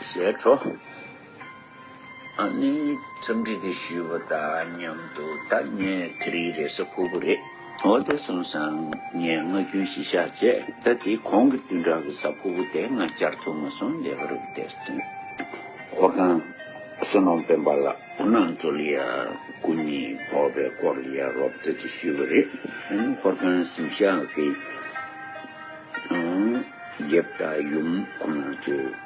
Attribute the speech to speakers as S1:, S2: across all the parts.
S1: ཞེས་ཁྲོ་ཨ་ནི་འཚམས་འདྲི་དེ་ཞུས་པ་དང་མཉམ་དུ་ད་ངས་དེ་རིང་རེས་གཟའ་ཕུར་བུ་རེད་འོ་དེ་སོང་སང་ངས་ང་རྒྱུན་བཞི་ཤ་བཅད་ད་དེ་གོང་གི་བདུན་ཕྲག་གི་གཟའ་ཕུར་བུ་དེ་ང་བཅར་ཐུབ་མ་སོང་ལེ་བར་བུ་དེར་བསྟུན་ཧོར་ཁང་བསོད་ནམས་དཔོན་པ་ལགས་ཁོ་ནང་ཚོ་ལི་ཡ་སྐུ་ཉིད་ཕོག་པའི་སྐོར་ལི་ཡ་རོབ་ཏུ་དེ་ཞུས་པ་རེད་ད་ནི་ཧོར་ཁང་གཟིམ་ཤག་གི་རྒྱབ་དང་ཡུམ་ཁོ་ནང་ཚོའི།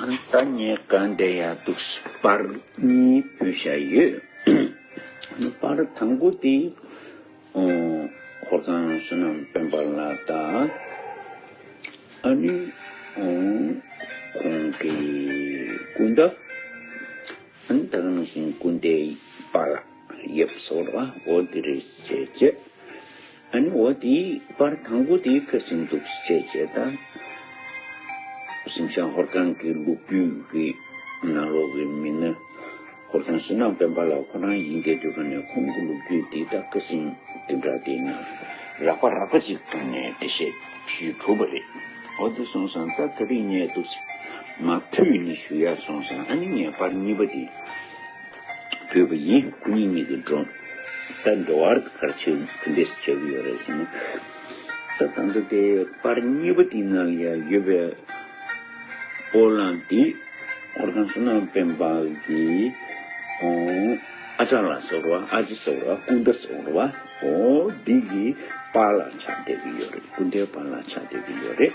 S1: ད་ངས་ག་འདྲེ་ཡག་འདུག་པར་གཉིས་བོས་བཞག་ཡོད། པར་དང་པོ་དེ་ཧོར་ཁང་བསོད་ནམས་དཔོན་པ་ལ་བལྟ། ཨ་ནུ། ཁོང་གི་སྐུ་འདྲ། ད་ག་རང་བཞིན་སྐུ་འདྲའི་པར་ཡོད་ཟེར་བ་འོ་དེ་རེད་ཅེས་བརྗོད། ཨཱ་ནི་འོ་དེའི་པར་དང་པོ་དེ་ཁྱོད་ཟིན་འདུག་ཅེས་བྱས་བྱས་ད། ཟིན་ཤང་ཧོར་ཁང་གི་ལུག་ཁྱུའི་གི་ནང་ལོག་གི་མི་ནི་ཧོར་ཁང་ཕྱི་ནང་དཔོན་པ་ལ་ཁོ་རང་ཡིན་སྐད་དུ་ཁོ་ནས་ཁོང་གི་ལུག་ཁྱུ་དེ་དག་གི་ཟིན་དེ་འདྲ་དེ་ན་རག་པ་རག་པ་ཅིག་བཏང་ནས་འདྲི་བཤད་ཞུས་གྲུབ་པ་རེད་འོ་དེ་སོང་སང་ད་ག་རིགས་རྙེད་འདུག་ཟེར་མ་ཕུད་ནི་ཞུ་ཡ་སོང་སང་ཨཱ་ནི་ངས་པར་གཉིས་པ་དེ། བུས་པ་ཡིན་སྐུ་ཉིད་གཉིས་ཀྱི་འགྲོ་ལྟ་འདྲ་བར་དུ་ཁར་ཆེ་གུ་འདེད་སུ་བྱེད་ཀྱི་ཡོད་རེད་ཟེར་ནས། ད་ད་འདི་དེའི་པར་གཉིས་པ་དེ་ན་ལ་ཡོད་པའི་སྤོ་ལངས་དེ་འཁོར་ཁང་སུ་ནང་སྤེན་པ་གི་ཨ་ཅག་ལ་ཟེར་བ་ཨ་ཅེ་ཟེར་བ་སྐུ་ཟླ་ཟེར་བ་བོ་འདི་གི་པར་ལ་ཆགས་བསྡད་ཀྱི་ཡོད་རེད་སྐུ་ཟླའི་པར་ལ་ཆགས་བསྡད་ཀྱི་ཡོད་རེད།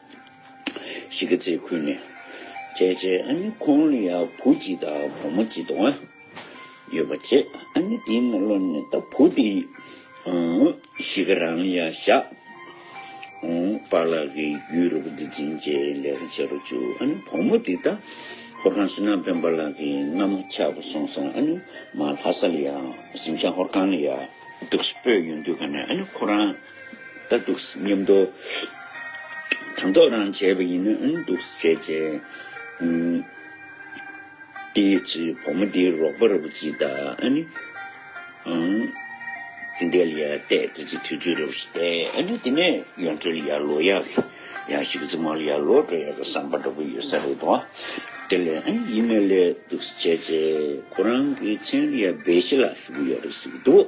S1: གཞིས་ཀ་རྩེ་ཁུལ་ནས་ཁྱེད་ཀྱི་ཨ་ནེ་ཁོང་ལ་ཡང་བུ་གཅིག་དང་བུ་མོ་གཅིག་དང། ཡོད་པ་བྱས་ཨ་ནེ་དེའི་སྔ་ལོ་ནས་ད་བུ་དེ་གཞིས་ཀ་རང་ཡ་ཤག་པ་ལགས་ཀྱི་རྒྱུད་རུ་བ་འདི་འཛིན་རྒྱའི་ལས་ཀ་བྱེད་རུ་བཅུག་ཨ་ནེ་བུ་མོ་དེ་ད་ཧོར་ཁང་སི་ན་སྤེན་པ་ལགས་ཀྱི་མནའ་མ་ཆགས་པ་སོང་སོང་ཨ་ནེ་མ་ལྷ་ས་ལ་ཡང་གཟིམ་ཤང་ཧོར་ཁང་ལ་ཡང་འདུག་སྤོས་ཡོད་འདུག་ག་ནས་ཨ་ནེ་ཁོ་རང། ལྟར་འདུག་སྙམ། དུ་དང་ཐོག་རང་བྱས་པ་ཡིན་ནའང་འདུག་བྱས་བྱས། དེའི་ཚེ་བུ་མོ་དེའི་རོགས་པ་རབ་བྱེད་དག་ཨ་ནི། དེ་འདས་ལ་ཡར་བལྟས་དེ་ཚེ་དུས་ཚོད་རབ་བྱེད་དག་ཨ་ནི། དེ་ནས་ཡོན་ཁྲོད་ལ་ཡར་ལོག་ཡ་གི་ཡང་ཞིག་རྫི་མ་ལ་ཡར་ལོག་འགྲོ་ཡ་གི་བསམ་པ་འདྲ་པོ་ཡོད་ས་རེད་དོ། དེ་ལས་ཡིན་ན་ལས་འདུག་བྱས་བྱས། ཁོ་རང་གི་མཚན་ལ་ཡར་སྦས་བྱེད་ལ་ཞུགས་ཡོད་རེད་ཟེར་གྱི་འདུག།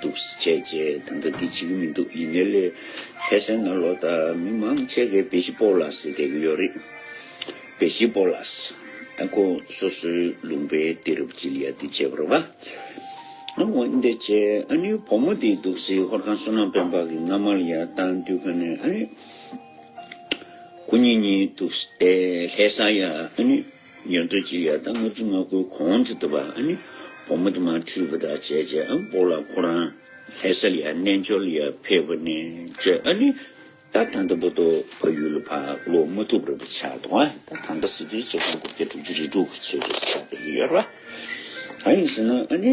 S1: འདུག་སེ་བྱས་རྗེས་ད་ལྟ་འདི་བྱེད་ཀྱི་མི་འདུག་ཡིན་ནའི་ལས་ཕལ་ཆེར་ན་ལོ་ལྟར་མི་མང་ཆེ་གེ་བེ་ཤི་པོ་ལགས་སེ་བྱེད་ཀྱི་ཡོད་རེད། བེ་ཤི་པོ་ལགས་ཨ་ཁུ་སོ་སོའི་ལུང་པའི་སྡེ་རབས་སྤྱི་ལ་ཡ་འདི་བྱེད་པར་བ་ང་འོན་ཏེ་བྱས་ཨ་ནུའི་བུ་མོ་འདི་འདུག་སེ་ཧོར་ཁང་བསོད་ནམས་དཔོན་འབག་གི་སྔ་མར་ཡར་བཏང་དུས་ཁ་ནས་ཨ་ནུ་སྐུ་ཉིད་གཉིས་འདུག་སྟེ་ལྷས་ས་ཡ་ཨ་ནུ། ཉོན་ཐོས་ཀྱི་ཡར་དང་ལྔ་བཅུ་ང་དགུའི་གོང་དུ་འདུག་པ་ནི་བུ་མོ་དུ་མ་འཁྲུལ་པ་དག་བྱས་བྱས་ཨ་འབོ་ལ་ཁོ་རང་ལྷས་ས་ལ་རྣལ་འབྱོར་ལ་ཕེབས་པ་ནས་བརྗོད་ཨ་ནི་ད་ད་ལྟ་བུ་དོ་བ་ཡུལ་ལ་བག་ལོ་མ་ཐུབ་རབ་བྱ་དོ་ཨ་ད་ད་ལྟ་སྲིད་དུས་བྱེ་བ་དགུ་བརྒྱ་དྲུག་ཅུ་རེ་དྲུག་བྱེ་བ་བྱ་བ་ཡོད་ར་ཨ་ཡིན་ཟེར་ན་ཨ་ནི་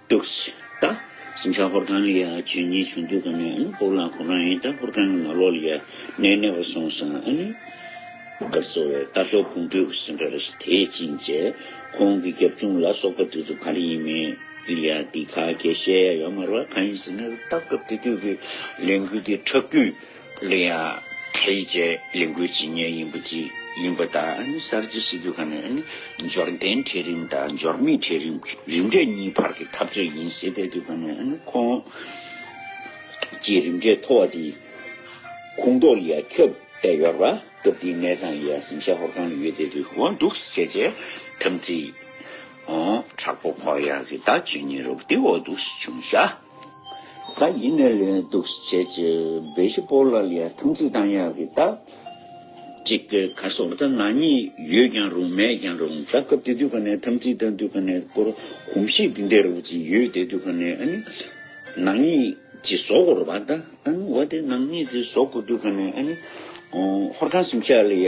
S1: ཏུགས། ད། ཟིང་ཆ་ཧོར་ཁང་ལ་ཡ་ཇུས་གཉིས་བྱུང་འདུག་ག་ནས་ཨཱ་སྤོབས་ལགས་ཁོ་རང་ཡིན་ད་ཧོར་ཁང་གི་ནག་ལོག་ལ་ཡ་གནས་གནས་པ་སོང་སང་ཨཱ་ནི། སྒར་གཙོ་བའི་རྟ་ཤོག་ཕུང་སྤྲུལ་གྱི་སེམས་སྒྲ་རེ་ཞིག་དེད་ཅིང་བཅད། ཁོང་གི་རྒྱབ་ཆུང་ལ་སོགས་པ་དེ་ཚོ་ག་རེ་ཡིན་མིན་གྱི་ཡ་འདི་ཁ་གད་བཤད་ཡ་ཡོད་མ་རེད་བ་ག་ཡིན་ཟེར་ནས་ལྟ་སྐབས་དེ་དུས་ཀྱི་ལས་འགུལ་དེ་ཁྲག་རྒྱུད། གླུ་དབྱངས་ཁྲེ་ཡི་བཅས་ལས་འགུལ་ཇི་སྙེད་ཡིན་པོ་ཅི་ཡིན་པ་དང་གསར་བརྗེ་ཞི་རྒོལ་ཁང་ནི་འབྱོར་ལྡན་གྲལ་རིམ་དང་འབྱོར་མེད་གྲལ་རིམ་རིམ་གྲས་གཉིས་བར་གྱི་འཐབ་རྩོད་ཡིན་ཟེར་བསྡད་དུས་ཁོང་ནི་ཁོང་ཀྱི་རིམ་གྲས་མཐོ་བ་དེའི་ཁུངས་གཏོར་ཡ་ཁྱབ་བསྡད་ཡོད་ར་སྐབས་དེའི་གནས་སྟངས་ཡ་གཟིམ་ཤ་ཧོར་གང་ནས་ཡོད་བསྡད་དུས་འོང་འདུག་ཟེར་བྱས་དམ་ཚིག་དྲག་པོ་ཕོག་ཡ་གི་བདག་ཇི་སྙེད་རུ་དེ་འོ་འདུག་བྱུང་ཤ། ག་ཡིན་ནས་ལེན་འདུག་བྱས་ཀྱི་བེ་ཤི་པོ་ལ་ལས་ཐང་ཚིག་དང་ཡག་གི་ད། གཅིག་གི་ཁ་སོག་ད་ནང་གཉིས་ཡོད་ཀྱང་རུང་མེད་ཀྱང་རུང་ད་སྐབས་དེ་དུས་ག་ནས་ཐང་ཚིག་ད་དུས་ག་ནས་སྐོར་གོམ་གཤིས་དེ་འདའི་རོགས་ཅིག་ཡོད་དེ་དུས་ག་ནས་ཨ་ནི་ནང་གཉིས་ཀྱི་ཟོག་གོར་བ་ད་ཨ་ནི་བ་དེ་ནང་གཉིས་ཀྱི་ཟོག་གོ་དུས་ག་ནས་ཨ་ནི་ཧོར་ཁང་སིམ་ཤ་ལ་ཡ།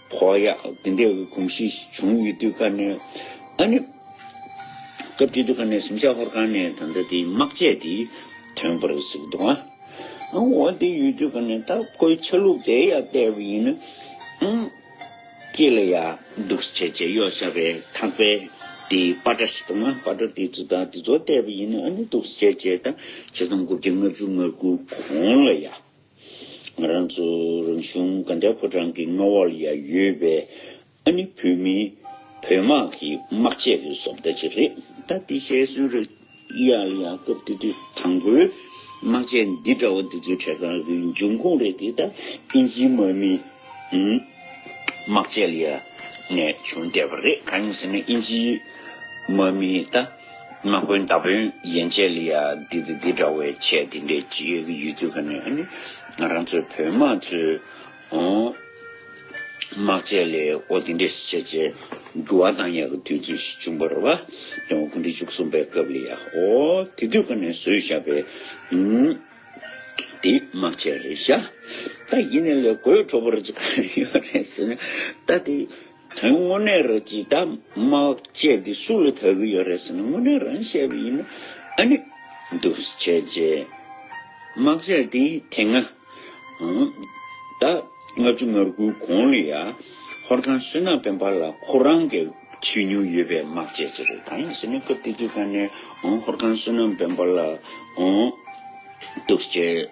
S1: ཁོག་ཡག་འདི་འདྲའི་འོས་གོམས་ཤིག་བྱུང་ཡོད་དུས་ཀ་ནས་ཨ་ནི། སྐབས་དེ་དུས་ཀ་ནས་སུམ་བྱ་ཧོར་ཁང་ནས་ད་ལྟ་དེའི་དམག་ཆས་དེ་ཐོན་པར་གཟིགས་འདུག་ཨ། ཨང་འོ་དེ་ཡོད་དུས་ཀ་ནས་ད་ཁོའི་ཆ་ལུགས་དེ་ཡང་བལྟས་པ་ཡིན་ན་ཨང། ཁྱེད་ལ་ཡག་འདུག་ཟེར་བྱས་བྱས་གཡོག་བྱ་བའི་ཐག་པས་དེའི་པ་ཏྲ་ཞིག་དང་ཨ་པ་ཏྲ་དེ་ཚོ་དང་དེ་ཚོ་བལྟས་པ་ཡིན་ན་ཨ་ནི་འདུག་ཟེར་བྱས་བྱས་དང་བྱས་དང་དགུ་བརྒྱ་ལྔ་བཅུ་ང་དགུ་གོང་ལ་ཡག། ང་རང་ཚོ་རང་གཞུང་ག་འདྲའི་ཕོ་བྲང་གི་མངའ་འོག་ལ་ཡང་ཡོད་པས་ཨ་ནི་བོད་མི་བོད་དམག་གི་དམག་ཆས་ཀྱི་བཟོ་ལྟ་ཅིག་རེད་ད་དེ་ཤེས་སོན་རེད་ཡ་ལ་ཡ་སྐབས་དེ་དུས་དང་པོའི་དམག་ཆས་འདི་འདྲ་བོ་འདི་ཚོའི་གྲས་ཁང་གི་འབྱུང་ཁུངས་རེད་དེ་ད་ཨིན་ཇིའི་དམག་མིའི་དམག་ཆས་ལ་ཡང་ནས་བྱུང་བསྡད་པ་རེད་གང་ཡིན་ཟེར་ན་ཨིན་ཇིའི་དམག་མིའི་ད། མ་དགོན་ད་བོན་ཡན་ཆད་ལ་ཡང་འདི་དང་འདི་འདྲ་བའི་ཆས་འདི་འདྲའི་གཅིག་ཡོད་དུས་ག་ནས་ནི་ང་རང་ཚོའི་བོན་དམག་ཚོའི་དམག་ཆས་ལས་ཨོ་འདི་འདྲའི་ཆས་ཆས་འགྱུར་བ་གཏང་ཡག་གི་དུས་ཚོད་ཞིག་བྱུང་བར་བ་དོན་དགུང་གྲི་བཅུ་གསུམ་པའི་སྐབས་ལ་ཡང་ཨོ་དེ་དུས་ག་ནས་བཟོས་བཞག་པའི་དེ་དམག་ཆས་རེད་བཞག་ད་ཡིན་ནས་ལས་དགོས་འཕྲོ་བར་ཅི་ག་ཡོད་རེད་ཟེར་ན་ད་དེ། དོན་དངོས་གནས་ར་ཇི་ད་མ་བཅས་ཀྱི་སུ་ལ་ད་གི་ཡོད་རེད་ཟེར་ན་དངོས་གནས་རང་བཤད་པ་ཡིན་ན་ཨ་ནི་འདུག་བྱས་རྗེས་མ་བྱས་ཏེ་དེ་སྔ་ད་ལྔ་བཅུ་ང་དགུའི་གོང་ལ་ཡ་ཧོར་ཁང་བསོད་ནམས་དཔོན་པ་ལ་ཁོ་རང་གི་ཆོས་ཉུང་ཡོད་པའི་མ་བཅས་ཅི་རེད་ད་ཡིན་ཟེར་ན་སྐབས་དེ་དུས་ད་ནི་ཧོར་ཁང་བསོད་ནམས་དཔོན་པ་ལ་འདུག་བྱས།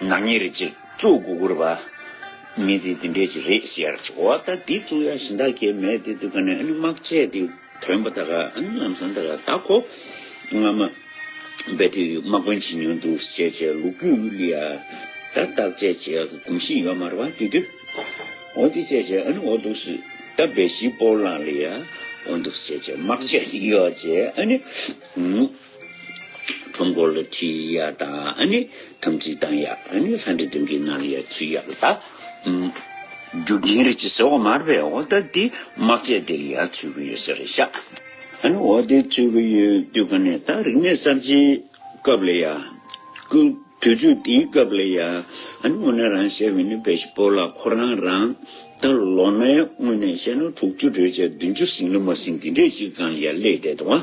S1: ནག་ཉེས་རེད་ཅེས་གཙུག་དགུ་བསྐུར་བ། མི་དེ་འདི་འདྲས་ཀྱི་རེད་ཟེར་ཡར་བྱེད། འོ་ད་འདི་གཙུག་ཡག་ཞིང་དག་གེ་མེད་དེ་དུས་ག་ནས་དམག་བཅས་དེ་དོན་པ་དག་ལམ་སང་དག་བདག་ཁོ་ང་མ་བས་དུས་དམག་དཔོན་བྱེད་མྱོང་འདུག་ཞེས་བྱས་ལུག་བུས་ཨུ་ལི་ཡ་ད་བདག་བཅས་བྱེད་ཡག་གི་གོམས་གཤིས་ཡོད་མར་བ་དེ་དུས་འོ་དེ་བྱས་བྱས་འོ་འདུག་སུ་ད་བས་ཞིག་པོ་ལང་ལི་ཡ་འོ་འདུག་བྱས་བྱས་དམག་བཅས་ཡོད་བྱས། ཁྲོམ་སྐོར་ལ་ཁྲིད་ཡ་དང་ནི་དམ་ཚིག་བཏང་ཡ་ནི་ལྷ་འདྲེ་དོན་གྱི་ནང་ལ་ཡ་ཚུད་ཡ་ལ་རྒྱུ་རྐྱེན་རིགས་ཀྱི་ཟེ་བ་མར་པའི་འོ་ད་དེ་དམག་ཆས་དེ་ལ་ཡ་ཚུད་ཀྱི་ཡོད་ཟེར་ཤག་ཨ་ནི་འོ་དེ་ཚུད་ཀྱི་ཡོད་དུས་ག་ནས་ད་རིག་གནས་གསར་བརྗེའི་སྐབས་ལ་ཡ་ཀུ་དུས་ཚོད་དེའི་སྐབས་ལ་ཡ་ཨ་ནི་འོ་ན་རང་བཤད་མི་ནི་བེ་ཤི་པོ་ལ་ཁོ་རང་རང་ད་ལོ་ནའི་སྔོན་ནས་བཤད་ན་དྲུག་ཅུ་གྲོས་བྱས་བདུན་ཅུ་ཟིན་ལ་མ་ཟིན་དེ་འདྲས་ཅིག་ཙང་ཡ་སླེས་བསྡད་འདུག་ཨ།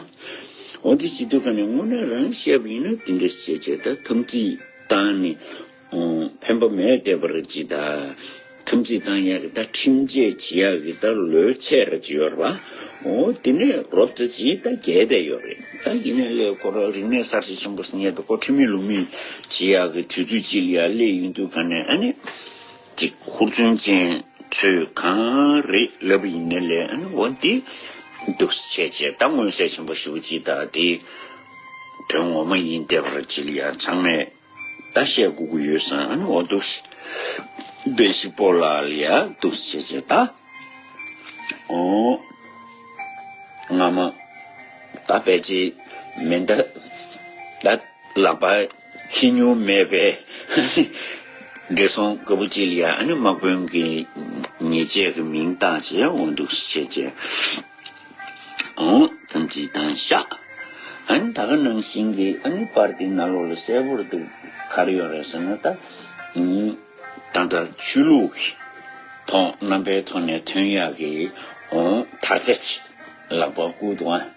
S1: འོ་དེ་ཅི་འདུག་ག་ནས་དངོས་གནས་རང་བཤད་པ་ཡིན་ན་དེ་འདྲ་བྱས་བྱས་ད་ཐམས་ཅད་བཏང་ནས་ཕན་པ་མེད་བསྡད་པར་ཅི་ད་ཐམས་ཅད་བཏང་ཡག་གི་ད་ཁྲིམས་ཆད་བྱེད་ཡག་གི་ད་ལོས་ཆད་ར་ཅི་ཡོད་ར་འོ་དེ་ནས་རོབ་རྩེ་ཅི་ད་རྒྱལ་བསྡད་ཡོད་རེད་ད་ཡིན་ན་གླེ་བསྐོར་རིག་གནས་གསར་བརྗེ་ཆེན་པོ་ཟེར་ཉེས་དོ་བསྐོར་ཁྲིམས་མེད་ལུགས་མེད་བྱེད་ཡག་གི་དུས་ཚོད་ཅིག་ལ་གླེ་ཡོད་འདུག་ག་ནས་ཨ་ནི། ཅིག་ཧུར་བརྩོན་ཅན་ཚོས་གང་རེད་ལབ་པ་ཡིན་ནའི་ལན་འོ་འདི་འདུག་བྱས་རྗེས་ད་མངོན་གསལ་ཆེན་པོ་ཞུ་གི་ད་དེ་དོན་ངོ་མ་ཡིན་བདེ་བར་གྱིལ་ཡ་ཚང་མས་ད་བཤད་དགོས་ཀྱི་ཡོད་བསམ་འོ་འདུག་བདེ་ཞིག་པོ་ལ་ལ་ཡ་འདུག་བྱས་རྗེས་ད་འོ་ང་མ་ད་བལ་ཆེ་མེད་འདི་ད་ལགས་པ། ཁྱི་སྨྱོན་མེད་པས་བགྲེས་སོང་དགའ་བོ་ཅི་ལ་ཡ་ཨ་ནི་དམག་དཔོན་གྱི་ཉེ་ཆད་ཀྱི་མིང་བཏགས་ཅེས་འོང་འདུག་ཤེས་ཀྱི་འོང་ཐམས་ཅད་བཏང་ཤག་ཨ་ནི་ད་ག་ནང་བཞིན་གྱི་ཨ་ནི་པར་ཏི་ན་ལོག་ལ་གསལ་བོར་འདུག་གར་ཡོང་རེད་ཟེར་ན་ད་ད་ལྟ་ཆོས་ལུགས་ཀྱི་ཐོག་རྣམ་པའི་ཐོག་ནས་ཐོན་ཡག་གི་འོང་ད་ཚ་ལག་པ་ཨུཏྤལ།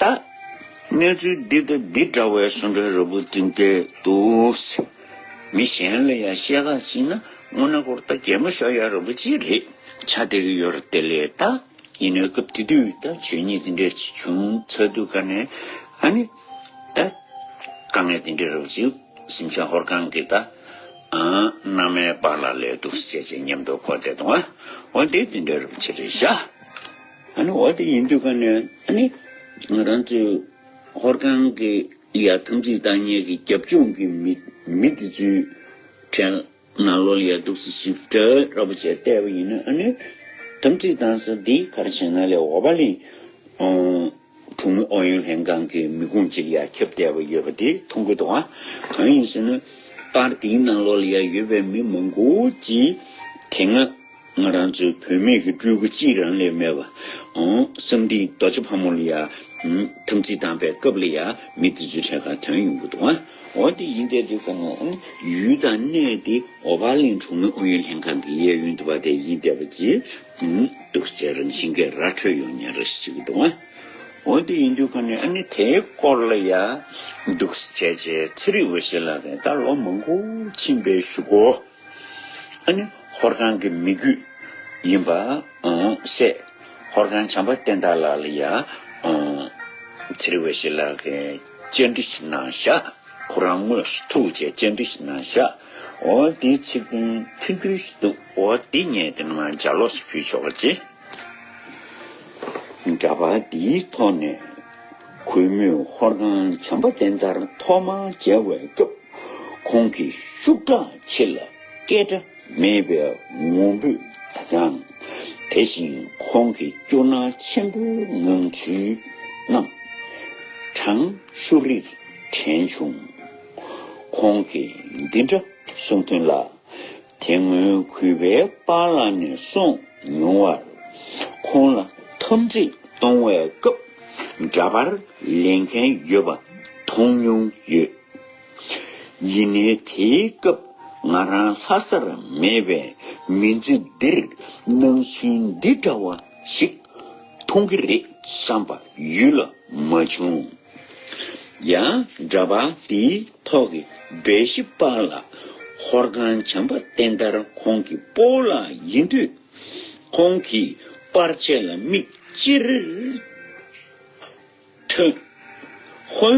S1: ལྟ། གནས་ཚུལ་འདི་ལྟ་འདི་འདྲ་བའི་གསུང་སྒྲ་རབ་བུ་ཏིང་ཏེ་འདུག། མི་གཞན་ལ་ཡང་བཤད་ཁ་ཅིག་ན་སྔོ་ན་ཀོར་ལྟ་རྒྱལ་མོ་ཤོ་ཡ་རིན་པོ་ཆེ་རེད་ཆ་དེ་གི་ཡོད་རེད་དེ་ལས་ལྟ། ཡིན་ནའི་སྐབས་དེ་དུས་ལྟ་ཆོས་ཉིད་འདི་འདྲའི་ཆེ་ཆུང་ཚ་དུས་དཀའ་ནས་ཨ་ནི། ལྟ། དཀའ་ངལ་དེ་འདྲའི་རབ་ཅིག་སེམས་ཤ་ཧོར་གང་གི་ལྟ། ཨང། མནའ་མའི་བག་ལ་ལས་འདུག་སེ་ཅེས་ཉམས་དོད་ཁོ་བསྡད་འདུག་ཨ་འོ་དེ་དེ་འདྲའི་རབ་ཆེ་རེད་ཤ། ཨ་ནི་འོ་དེ་ཡིན་དུས་ཀ་ནས་ཨ་ནི་ང་རང་ཚོའི་ཧོར་ཁང་གི་ཡ་ཐམས་ཅད་བདག་གཉེར་གྱི་རྒྱབ་ལྗོངས་ཀྱི་མི་དེ་ཚོའི་གྲལ་ན་ལོ་ལེགས་འདུག་ཟེར་ཞིབ་ཕྲ་ར་པོ་བྱས་བལྟས་པ་ཡིན་ན་ཨ་ནི་ཐམས་ཅད་དང་ས་འདི་ག་རེ་བྱས་ན་ལེགས་འོ་བ་ལེན། གྲོང་མི་ཨུ་ཡོན་ལྷན་ཁང་གི་མི་ཁུངས་གཅིག་ཡར་ཁྱབ་བསྡད་པ་ཡོད་པ་དེ་མཐོང་གི་འདུག་གང་ཡིན་ཟེར་ན། པར་དེའི་ནང་ལོགས་ལ་ཡར་ཡོད་པའི་མི་མང་པོ་གཅིག་དེ་སྔ་ང་རང་ཚོའི་བུད་མེད་ཀྱི་སྤྲུལ་སྐུ་གཅིག་རང་ལས་མེད་པ། བསམ་འདི་རྡོ་རྗེ་ཕག་མོ་ལ་ཡང་དམ་ཚིག་བསྡམས་པའི་སྐབས་ལ་ཡང་མི་དེ་ཚོའི་གྲས་ཁ་དོན་ཡོང་གི་འདུག་འོ་དེ་ཡིན་བསྡད་དུས་གང་ལ་ཡུལ་དང་གནས་དེ་ཨོ་བྷ་ལིན་གྲོང་མི་ཨུ་ཡོན་ལྷན་ཁང་གི་གཡས་གཡོན་དུ་བ་དེ་ཡིན་བསྡད་པ་གྱིས། གདུག་རྩའི་རང་བཞིན་གྱི་ར་འཕྲོད་ཡོང་ཉེན་རེ་ཞིག་འདུག་ང། འོན་ཏེ་ཡིན་རྒྱུ་ག་ནས་ཨ་ནི་དེའི་སྐོར་ལ་ཡ། གདུག་རྩའི་རྗེས་ཚེ་རིང་བོ་ཞིག་ལ་རེ་ད་ལོ་མང་པོ་ཕྱིན་པའི་ཞུ་སྒོ། ཨ་ནི་ཧོར་ཁང་གི་མི་རྒྱུད་ཡིན་པ། སྲས། ཧོར་ཁང་བྱམས་པ་བསྟན་བདག་ལགས་ལ་ཡ། ཚེ་རིང་བོ་ཞིག་ལ་རེ་གཅེས་འདྲི་ཞིག་གནང་བཞག་ཁོ་རང་དངོས་སུ་ཐུག་རྗེས་གཅེས་འདྲི་ཞིག་གནང་བཞག་འོ་དེའི་ཚིག་དོན་མཐུན་འགྱུར་ཞིག་འདུག། འོ་འདི་ངས་དེ་སྔ་འཇའ་ལོགས་སུ་ཕུལ་ཆོག་ལ་ཅི། འདྲ་པར་འདིའི་ཐོག་ནས་གུས་མོས་ཧོར་ཁང་བྱམས་པ་བསྟན་དར་ཐོག་མར་མཇལ་བའི་སྐབས་ཁོང་གི་ཤུགས་དྲག་ཆེ་ལ་སྐད་སྒྲ་མེད་པའི་ངུ་འབོད་དང་སྦྱང། དེ་བཞིན་ཁོང་གི་སྐྱོ་སྣང་ཆེན་པོའི་ངང་ཚུལ་རྣམས་གྲང་ཤུར་རིར་དྲན་བྱུང། ཁོང་གིས་འདི་འདྲ་གསུངས་དོན་ལ། དེ་སྔོན་གུས་པའི་པ་ལ་ནས་གསུངས་མྱོང་བར། ཁོང་ལ་འཐམ་འཁྲིད་གཏོང་བའི་སྐབས་འདྲ་པར་ལེན་མཁན་ཡོད་པ་མཐོང་མྱོང་ཡོད། ཡིན་ནའི་དེའི་སྐབས་ང་རང་ལྷ་སར་མེད་པས་མི་ཚེ་འདིར་སྣང་ཚུལ་འདི་འདྲ་བ་ཞིག་མཐོང་གི་རེད་བསམ་པ་ཡུལ་ལ་མ་བྱུང། ཡང་འདྲ་པར་འདིའི་ཐོག་གི་སྦས་གཞི་པར་ལ་ཧོར་ཁང་བྱམས་པ་བསྟན་དར་ཁོང་གི་སྤོ་ལ་ཡིན་དུས། ཁོང་གིས་པར་ཆས་ལ་མིག་ཅེར་ཐོན། ཧོན་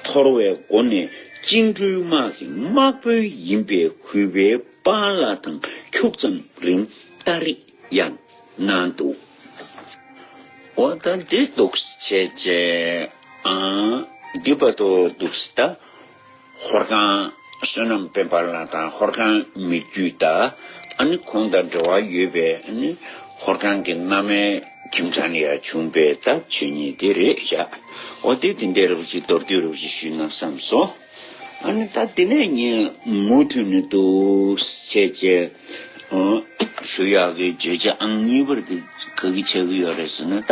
S1: ཐོར་བའི་སྒོ་ནས་བཅིངས་འགྲོལ་དམག་གི་དམག་དཔོན་ཡིན་པའི་གུས་པའི་པར་ལ་དང་འཁྱུག་ཙམ་རིང་བལྟ་རེས། ཡང་གནང་འདུག་འོ་ད་འདི་འདུག་བྱས་རྗེས་འདི་བ་དོ་འདུག་ད་ཧོར་ཁང་བསོད་ནམས་དཔལ་འབར་ལགས་དང་ཧོར་ཁང་མི་རྒྱུད་ད་ནི་ཁོང་དང་འབྲེལ་བ་ཡོད་པའི་ཧོར་ཁང་གི་མནའ་མའི་ཁྱིམ་ཚང་ནས་ཡང་བྱུང་པས་ད་ཁྱོད་ཉིད་འདི་རེད་བཞག་འོ་དེ་དེ་འདྲའི་རེ་བ་ཅིག་མདོར་བསྡུས་རེ་བ་ཅིག་ཞུས་གནང་བསམས་སོ། ཨ་ནི་ད་དེ་ནས་ཉིན་མོ་མཐུན་ནི་འདུག་ཟེར་ཅེས་ཞུ་ཡག་གི་བརྗོད་བྱ་ཨང་གཉིས་པར་དེ་ག་གི་ཆགས་ཀྱི་ཡོད་རེད་ཟེར་ན་ད།